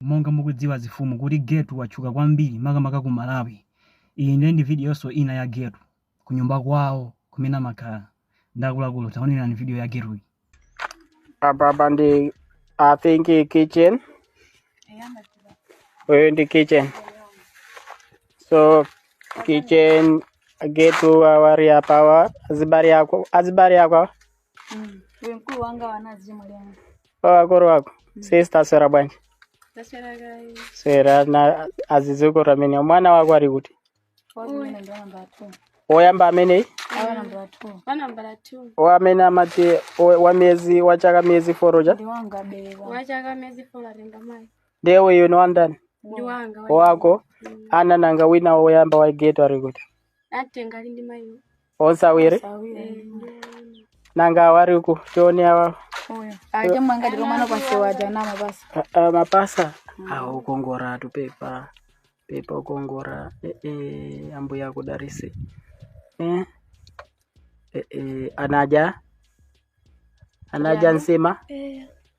Monga mukudziwa azifumu kuti Getu watchuka kwambiri makamaka ku Malawi. Iyi ndiye ndi videonso ina ya Getu kunyumba kwawo kumene amakhala ndi akuluakulu. Taonerani video ya Getuyi. Apapa ndi I think i kitchen. Uyo ndi kitchen. So kitchen Getu awa ali apawa azibale ako azibale ako Mm. Uyu mkulu wanga wanazi mulango. wamkulu wako sister aswera bwanji Taswera gai. swera na azizukuru amene mwana wako ali kuti Awa amene ndi namba 2. woyamba ameneyi Awa namba 2. Wa nambala 2. o amene amati o- wa miyezi wa chaka miyezi folo uja Ndi wanga bewa. Wa chaka miyezi folo renga mai. ndiye uyu ni wandani Ndi wanga. wa- wako nanga wina woyamba wa Getu ali kuti Natenga ali ndi mayiwo. onse awiri Sawire. nanga awari uku tione awa Uyo. Aje mwanga ndiko mwana kwa sewa jana mabasa. a- a- mapasa awo ukongora atu pepa pepa ukongora eh, eh, ambuya akudarisi eh? eh, eh, anaja anaja nsima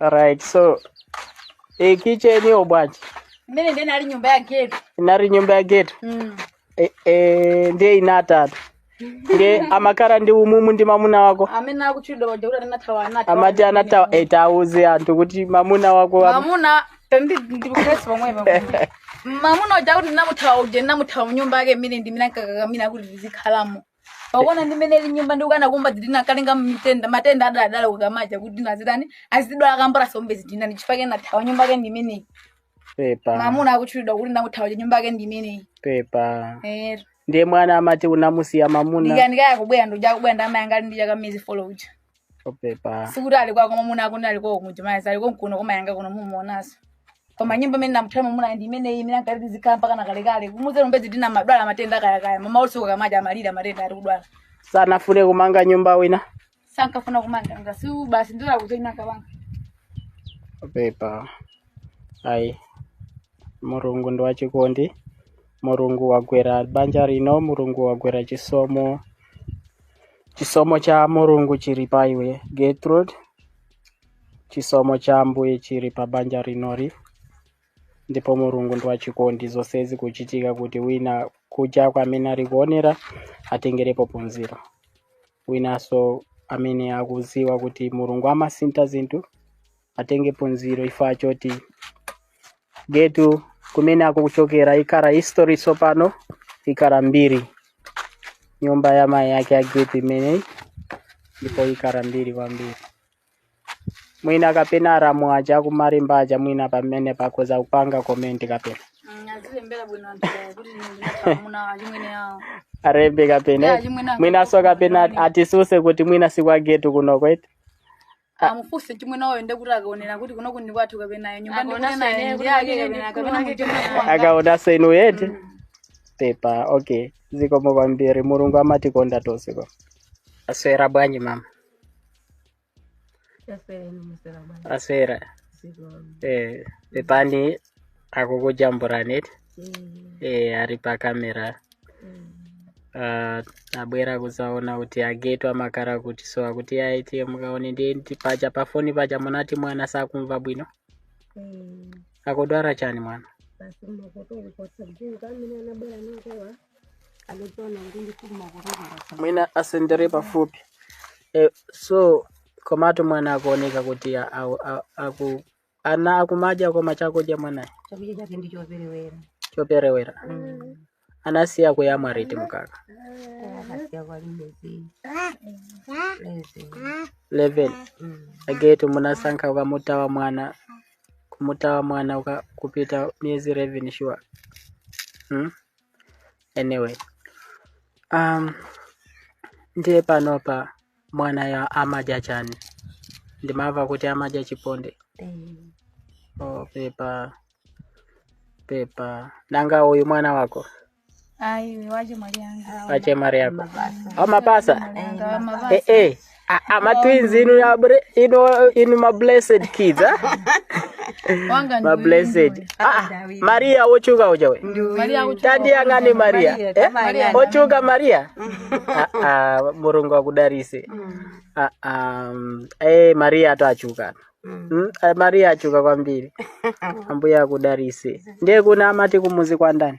Alright, so kitcheniyo bwanji. Imeneyi ndiye inali nyumba ya Getu. Inali nyumba ya Getu. Mm. E, e, ndiye inatatu. Ndiye umakhala ndi mommuno ndi mamuna wako. Amene akutchulidwa paja kuti anathawa anathawa. Amati anathawa tauze anthu kuti mamuna wako wa- Mamuna pembi ndikukhesi pomwe pomwe. Mamuna uja kuti ndinamuthawa uja ndinamuthawa mnyumba yake mmene ndimene ankakakamira kuti ndizikhalamo. pakuona ndi mmene ilili nyumba ndi ukana kumba zidina kalenga mitenda matenda adaladala kukamadza kuti nazidani azidwala kambora sombe zidina ndi chifukwa chake ndinathawa nyumba yake ndi imeneyi pepa mamuna akutchulidwa kuti ndinamuthawa nyumba yake ndi imeneyi pepa ero ndiye mwana amati unamusiya mamuna ndikanikaya kubwera ndoja kubwera nda mayi anga ali ndi chaka miezi folo uja o pepa sikuti ali kwako mwamuna akuti ali kwako kumjumaya ali konkuno kwa mayi anga kuno mumuonaso koma nyimbo imene ndinamuthawa mwamuna ndi imeneyi imene ankati ndizikhala mpaka na kalekale kumuze lumbezi tina madwala matenda akayakaya mama usiku kukamadza amalira matenda ali kudwala sanafune kumanga nyumba wina sankafuna kumanga ngasi basi ndira kuzoina kabanga o pepa ayi mulungu ndi wachikondi mulungu wagwera banja lino mulungu wagwera chisomo Chisomo cha Mulungu chili pa iwe Gertrude. Chisomo cha Ambuye chili pa banja linoli. Ndipo Mulungu ndi wachikondi zonse zikuchitika kuti wina kunjako amene ali kuonera atengerepo phunziro. Winanso amene akuziwa kuti Mulungu amasintha zinthu atenge phunziro chifukwa choti getu kumene akuchokera ikhala history tsopano ikhala mbiri nyumba ya mayi ake ya getu imeneyi ndipo ikhala mbiri kwambiri mwina kapena alamu aja a ku Malimba aja mwina pamene akhoza kupanga komenti kapena Mm, azilembera bwino anthu awo kuti ndinamuna achimwene awo alembe kapena Yeah, achimwene mwinanso kapena atitsutse kuti mwina si kwa Getu kuno kwete amufunse chimwene wawo nde kuti akaonere kuti kuno ndi kwathu kapena iyo nyumba ndikuti naye ndi ake kapena kapena muchimwa akaona senu yete pepa okay zikomo kwambiri mulungu amatikonda tonse okay aswera bwanji mama aswera eh pepani akukujambulanitu eh, ari pakamera Ah, abwera kuzaona kuti a Getu amakhala kuti so akuti ayi mukaone nde ndi paja pafoni paja munati mwana sakumva bwino akudwara chani mwana basi makoto uli otseguka amene anabwera nakowa anaona kuti ndifuna makoto kulasa mwina asendere pafupi eh, so komatu mwana akuoneka kuti a- a- a- aku ana akumadya koma chakudya mwanayo chakudya chake ndi choperewera choperewera anasiya kuyamwa riti mkaka akasiya kwalibe zii lezi 11 a Getu munasankha kumuthawa mwana kumuthawa mwana uka, kupita miezi 11 sure hmm? anyway um, ndiye panopa mwanayo amadya chani ndimava kuti amadya chiponde Eh, oh, pepa pepa nanga uyu mwana wako ayi wache mwali yanga wache mari yako au mapasa yanga wa mabasa eh, eh. A- ama twins inu, ya bre- inu, inu ma blessed kids ah? wanga ma ndi blessed ah, maria wochuka ujawe Maria uchu- tandiyang'ani maria Maria, eh? Maria. wochuka maria Ah, ah, mulungu akudalise Ah, ah, mm, eh, mariya atu achuka Mm, eh, mariya achuka kwambiri ambuye akudalise ndiye kuna amati kumuzi kwa ndani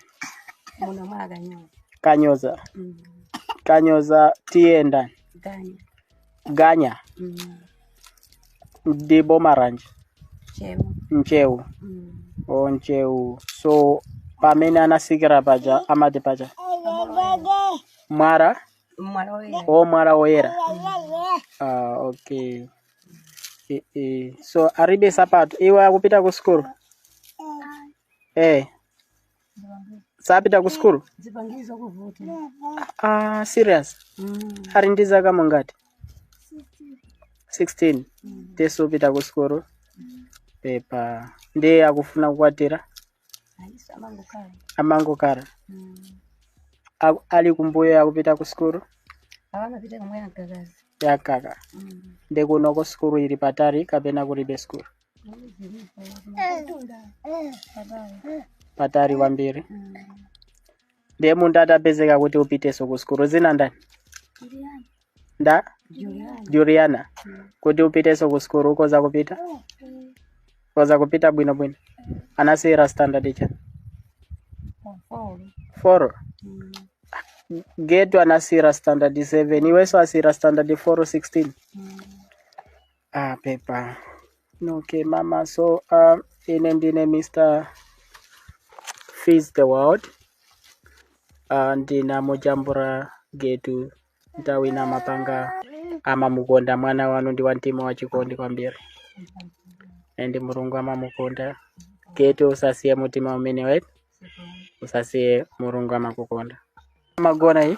muno mwakanyoza kanyoza kanyoza tiye ndani ganya ganya Mm. ndi boma ranji Chemo. Ntcheu Mm. o Ntcheu so pamene anatsikira paja amati paja mwara Mwala woyera. o mwara woyera ah, okay e, e. so aribe sapato iwe ukupita ku sukulu eh sapita ku sukulu zipangizo kuvuta ah, serious ali ndi zaka zingati 16 nde sapita ku sukulu pepa ndi akufuna kukwatira ayinso amangokhala amangokara Aku- ali kumbuyo akupita ku sukulu akamapita kamwe agagazi yakaka nde kunoko sukulu ili patali kapena kulibe sukulu patali kwambiri ndiye munthu atapezeka kuti upitenso ku sukulu dzina ndani ndi juliana kuti upitenso ku sukulu ukoza kupita koza kupita bwino bwino anasiyira standard chani four getu anasiyira standard 7 iwenso unasiyira standard 4 16 Ah, pepa. Okay, mama. So, um, ine ndine Mr. Feed the World, ndinamujambula Getu, nthawi ina Mapanga, amamukonda mwana wanu ndi wa mtima wa chikondi kwambiri and mulungu amamukonda getu usasiye mutima umenewo usasiye mulungu amakukonda amagona iyi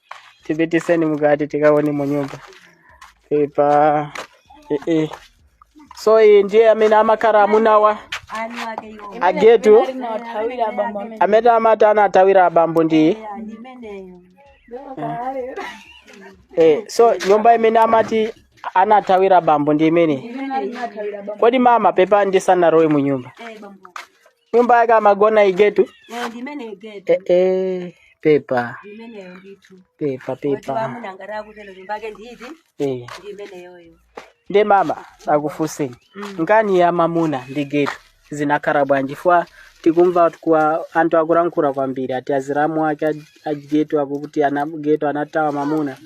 tipitiseni mukati tikaone mu nyumba pepa eh, eh. so iyi ndiye amene amakhala amunawa agetu amene amati anathawira abambo ndi iyi eh, so nyumba imene amati anathawira abambo ndi imeneyi kodi mama pepa ndisanalowe mu nyumba nyumba yake amagona aGetu Eh, ndimene igetu eh, eh, pepa ndimeneyo ndithu pepa wati pepa wamuna ngati akutero nyumba yake nditi eh. ndimeneyoyo nde mama ndikufunseni nkhani ya mamuna ndi getu zinakhala bwanji chifukwa tikumva kwa anthu akulankhula kwambiri ati azilamu ake a- a getu akuti aGetu anathawa mamuna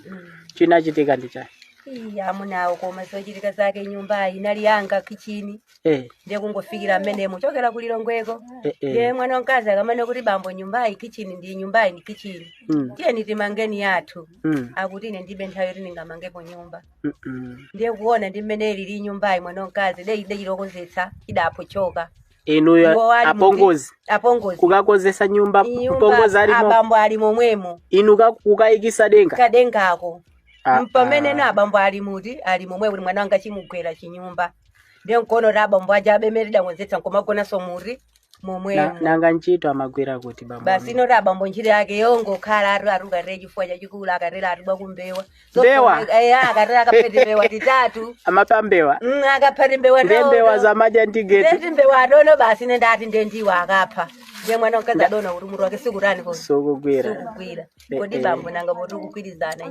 chinachitika ndi chani iyayi amunawo koma zochitika zake nyumbayi inali yanga kichini eh, ndiye kungofikira mmene munachokera ku lilongweko eh, eh. ndiye mwana wamkazi akanena kuti bambo nyumbayi kichini ndi nyumbayi ndi kichini Mm, tiyeni timangeni yathu mm, akuti ine ndilibe nthawi yoti ndingamangepo nyumba mm, mm. ndiye kuona ndi mmene ilili nyumbayi mwana wamkazi de ide chilikonzetsa idapochoka inuyo Iwo ali apongozi muti- apongozi kukakonzetsa nyumba Nyumba kupongoza alimo abambo ali momwemo inu ka- kukayikisa denga kadengako Ah, mpamene ah. nde abambo ali muti ali momwe kuti mwana wanga chimugwere chinyumba ndiye nkuona kuti abambo aja apemere ndakonzetsa nkumagonanso muti Na- momwemo nanga ntchito amagwira kuti bambo basi amene? inayo abambo ntchito yake yongokhala atu arukarire chifuwa chachikulu akatero ati pa kumbewa Mbewa? akatero akapete mbewa titatu amapa mbewa Mm, akapete mbewa nde mbewa tawo. za madya ndi Getu nde ti mbewa adono basi ine ndati ndi ndiwo akapha ndiye mwana mkazi adona kuti mutu wake sukutani ko sukugwira sukugwira kodi Eh, eh. bambo nanga poti kugwirizana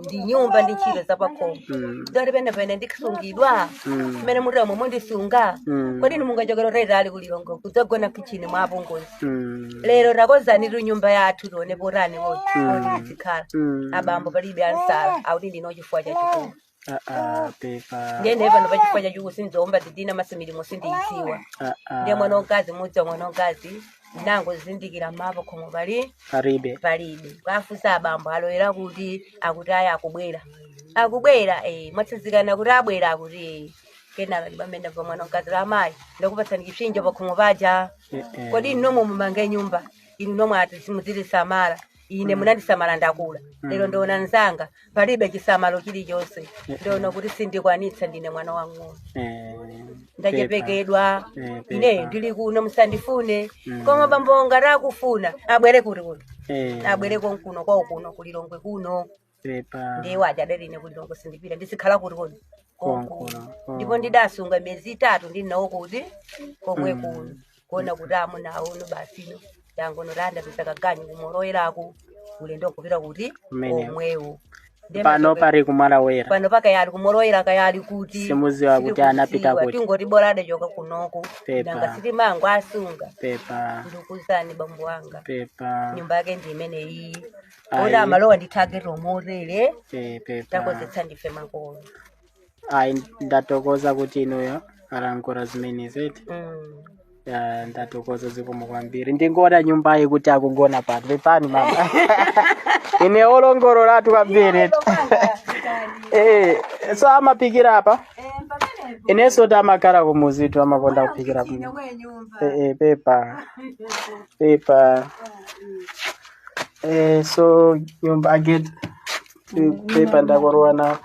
ndi nyumba ndi ntchito zapakhomo Mm. zili penipeni ndisungidwa Mm. mmene muti mundisunga Mm. kodi inu mungachokera utalitali ku Lilongwe kudzagona kichini mwa apongozi Mm. lero takonzanitu nyumba yathu tione potani poti tizikhala Mm. abambo palibe achita akuti ndili na chifuwa chachikulu Ah, ah, pepa ndiye ine pano pa chifuwa chachikulu sindiumba zidina masimilimo sindiyidziwa Ah, ah. ndiye mwana wamkazi mudzi wa mwana wamkazi nango zindikira ma pakhomo pali palibe palibe kuwafunsa abambo aloyera kuti akuti ayi akubwera akubwera eh mwatsanzikana kuti abwera akuti eh kenaka ndipamene pa mwana wamkazi ati amayi ndakupatsani chipsinjo pa khomo paja Eh, eh. kodi inu nomwe mumange nyumba inu nomwe ati muzitisamala ine munandisamala ndakula lero ndiona nzanga palibe chisamalo chilichonse ndiona kuti sindikwanitsa ndine mwana wang'ono Eh, ndachepekedwa Eh, pepa. ineyo ndili kuno musandifune koma bambo ngati akufuna abwere kuti kuno pepa. Eh, abwere konkuno kwawo kuno ku Lilongwe kuno pepa ndiye waja adali ine kuti ndongo sindipita ndisikhala kuti kodi Konkuno, konkuno oh. ndipo ndidasunga miyezi itatu ndi nawo kuti komwe kuno kuona kuti amuna aono basino yangono tanda basi kaganyu kumorowera uku ulendo nkupita kuti Kumeneko. komwewo Ndiye pano machoka- pari kumalawera pano pakaya ali kumorowera kaya ali kuti Simuziwa kuti sitikuziwa, anapita kuti. tingoti bora adachoka kunoko Pepa. nanga sitimangowasunga pepa ndikuuzani bambo wanga pepa nyumba yake ndi imeneyi Ayi. oti amalowa ndi target omotele pe- pepa takozetsa ndife makolo ayi ndatokoza kuti inuyo mwalongosola zimenezi Mm. Ya, ndatokoza zikomo kwambiri ndingona nyumbayi kuti akugona pano pepani mama ine wolongololatu kwambiri Eh, so amaphikira apa inenso timakhala kumuzitu amakonda kuphikira kuno Eh, eh, pepa pepa Eh, so nyumba eh pepa ndakalowa na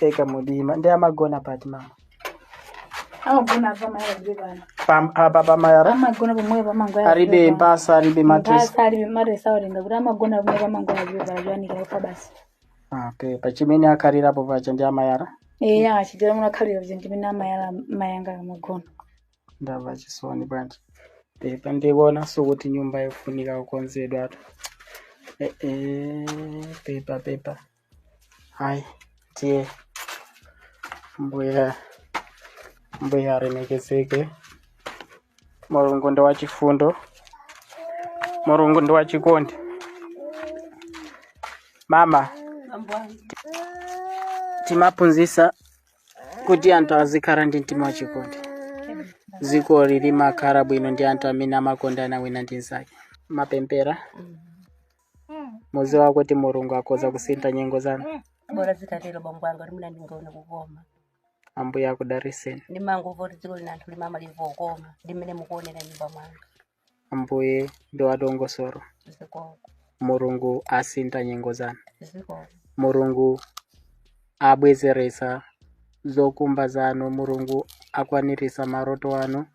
eka mudima ndi amagona pati mama amagona apa mayazire pano Pam- apa pamayala amagona pamweyo pamangoya aribe mpasa aribe matresi mpasa alibe matresi awatenga kuti amagona pamweyo pamangoya azire pano zoyanikira ufa basi okay pachimene akhalirapo pacha ndi amayala eya achitira muno akhalira kuti ndimene amayala mayi anga amagona ndamva chisoni bwanji pepa ndikuonanso kuti nyumba yofunika kukonzedwatu Eh, eh, pepa pepa hayi tiye mbuya mbuya alemekezeke mulungu ndi wachifundo mulungu ndi wachikondi mama timaphunzisa kuti anthu azikhala ndi mtima wachikondi dzikoli limakhala bwino ndi anthu amene amakondana wina ndi mnzake mapempera muziwa kuti mulungu akhoza kusintha nyengo zanu bora zitatero bambo wanga kuti mwina ndingaone kukoma ambuye akudariseni ndimangomva kuti dziko lina anthu limamalimva kukoma ndi mmene mukuonera nyumba mwanga Ambuye ndi wadongosolo. Mulungu asintha nyengo zanu. Mulungu abwezeretsa zokhumba zanu. Mulungu akwaniritsa maloto anu.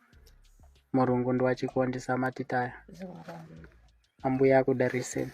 Mulungu ndi wachikondi samatitaya. Ambuye akudalitseni.